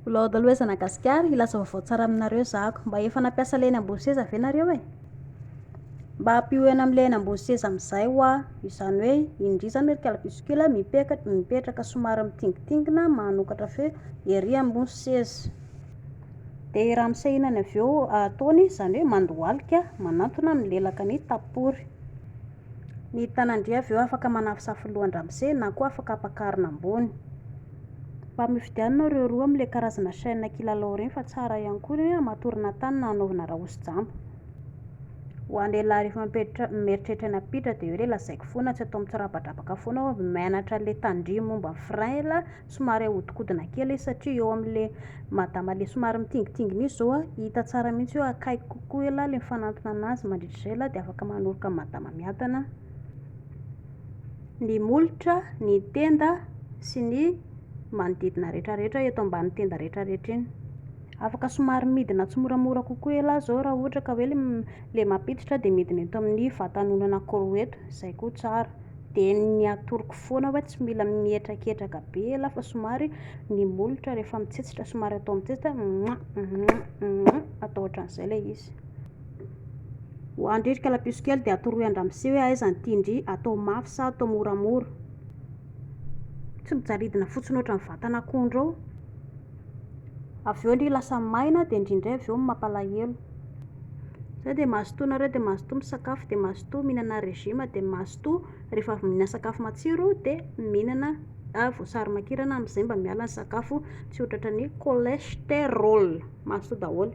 Mbola ao daholo ezana gasikara, hilaza vaovao tsara aminareo zako. Mba efa nampiasa ilay eny ambony seza ve nareo e? Mba ampio eny amin'ilay eny ambony seza amin'izay hoa, izany hoe indry izany hoe ry calbuscule mipeka- mipetraka somary mitingitingina manokatra feo ery ambony seza. Dia i ramose iny any avy eo ataony, izany hoe mandohalika manantona milelaka ny tapory. Ny tanan-dry avy eo afaka manafosafo lohan-dRamose na koa afaka ampakarina ambony. Mba mifidianina ireo roa amin'ilay karazana chaîne kilalao ireny fa tsara ihany koa ireny hamatorana tany na hanaovana rahosi-jamba. Ho an'ny lehilahy rehefa mipetra- mieritreritra ny hampiditra dia hoe ilay lazaiko foana tsy atao mitsirabadrabaka foana hoe mianatra ilay tandrimo momba ny frein ilay Somary ahodikodina kely izy satria eo amin'ilay madama ilay somary mitingitingina izy izao, hita tsara mihitsy hoe akaiky kokoa elah ilay mifanantona anazy, mandritra izay elah dia afaka manoroka ny madama miadana ny molotra, ny tenda sy ny manodidina retraretra eto ambany tenda retraretra iny. Afaka somary midina tsimoramora kokoa elah izao raha ohatra ka hoe ilay mampiditra dia midina eto amin'ny vatan'olona anankiroa eto, izay koa tsara. Dia ny atoroko foana hoe tsy mila mihetraketraka be elah fa somary ny molotra rehefa mitsetsitra somary atao mitsetsitra mwa mwa mwa atao ohatran'izay ilay izy. Ho an-dry ry kalapiso kely dia atoroy an-dramose hoe aiza ny tian-dry atao mafy sa atao moramora. Tsy mijaridina fotsiny ohatran'ny vatan'akondro ao. Avy eo ndry lasa maina dia ndry indray avy eo mampalahelo. Izay dia mazotoa nareo dia mazotoa misakafo dia mazotoa mihinana régime dia mazotoa rehefa avy mihinana sakafo matsiro dia mihinana voasary makirana amin'izay mba miala ny sakafo tsy ho tratran'ny cholestérol. Mazotoa daholo.